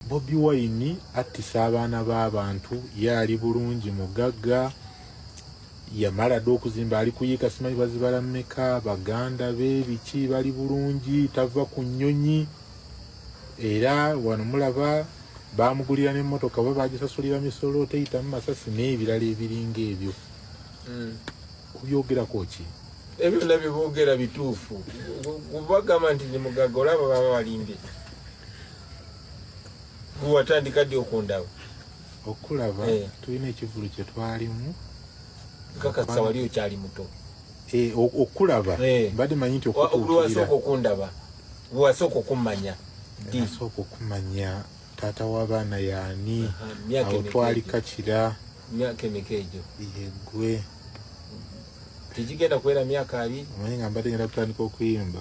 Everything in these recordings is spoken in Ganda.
Bobi Wine attisa abaana b'abantu, ye ali bulungi mugagga, yamala dda okuzimba, ali kuyiika simanyi bazibala mmeka, baganda be biki bali bulungi, tava ku nnyonyi era wano mulaba baamugulira n'emmotoka oba baagisasulira misolo teyitamu masasi n'ebirala ebiringa ebyo hmm. kubyogerako ki ebyo byonna bye boogera bituufu kubagamba nti ndi mugagga olaba baba balimbye gwe watandika ddi okundaba okulaba eh. tulina ekivulu kye twalimu nkakasa wali okyali muto eh, okulaba eh. mbadde manyi nti okutuukirira okundaba gwe wasooka okummanya ddi wasooka okumanya taata w'abaana yaani awo twali kakira myaka emeka egyo yegwe tegigenda kuwera myaka abiri omanyi nga mbadde ngenda kutandika okuyimba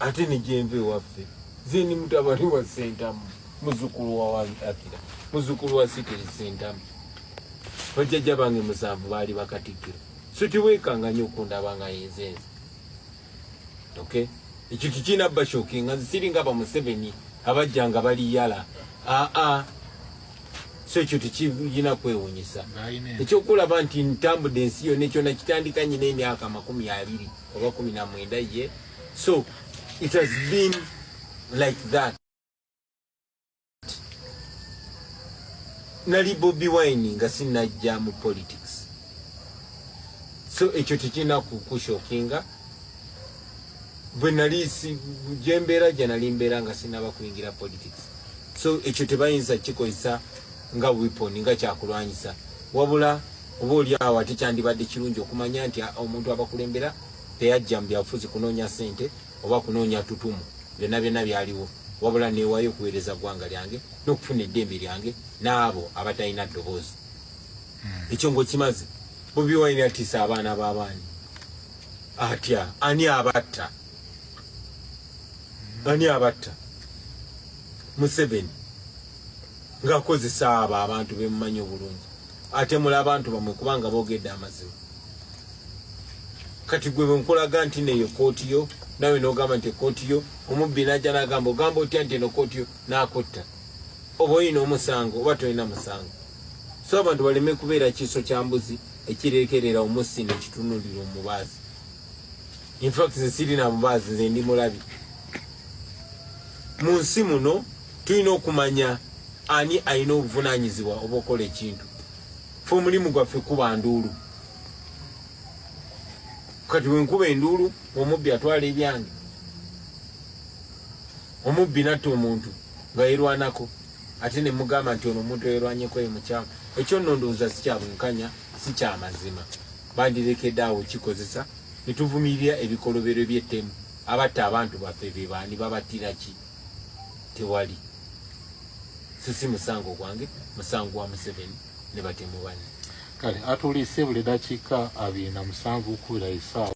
ate nijenva ewaffe zeni mutabani wa sentamu muzukulu wa akira muzukulu wa sitiri sentamu bajjajja bange musanvu baali bakatikkiro so tiwekanga nyo okundaba nga yenzenze okay ekyo kikina bashoki nga nzisinga bamuseveni abajja nga bali yala aa ah, ah. so ekyo tekiyina kwewunyisa ekyokulaba nti ntambudde ensi yona ekyona kitandika nyina emyaka makumi abiri oba kumi na mwenda ye so it has been like that nali bobi wine nga sinajja mu politics so ekyo tekirina kukushokinga bwe nali gyembeera gye nali mbeera nga sinaba kuyingira politics so ekyo tebayinza kikozesa nga weapon nga kyakulwanyisa wabula Oba oli awo ate kyandibadde kirungi okumanya nti omuntu abakulembera teyajja mu byabufuzi kunoonya ssente oba kunoonya tutumu byonna byonna byaliwo wabula neewayo okuweereza ggwanga lyange n'okufuna eddembe lyange n'abo abatalina ddoboozi hmm. ekyo ngaokimaze bobi wine atiisa abaana b'abaani atya ani abatta hmm. ani abatta museveni ng'akozesa abo abantu bemumanyi obulungi atemula abantu bamwe kubanga bogedde amazima kati gwe bwenkulaga nti neyo kooti yo nawe nogamba nti ekooti yo omubbi naja nagamba ogamba otya nti eno kooti yo nakutta oba oyina omusango oba tolina musango so abantu baleme kubeera kiiso kya mbuzi ekirekerera omussi nekitunulira omubaazi in fact nze sirina bubaazi nze ndi mulabi mu nsi muno tulina okumanya ani alina obuvunanyizibwa oba okola ekintu fe omulimu gwaffe kuba nduulu kati wenkuba enduulu omubbi atwala ebyange omubbi natta omuntu nga yerwanako ate nemugamba nti ono omuntu yerwanyeko ye mukyamu ekyo nondowooza sikyabwenkanya sikyamazima bandirekedde awo kikozesa ne tuvumirira ebikolobero by'ettemu abatta abantu baffe be baani babattira ki tewali so si musango gwange musango wa museveni ne batemu banne kale atuliise buli dakiika abiri na musanvu okubira esaawa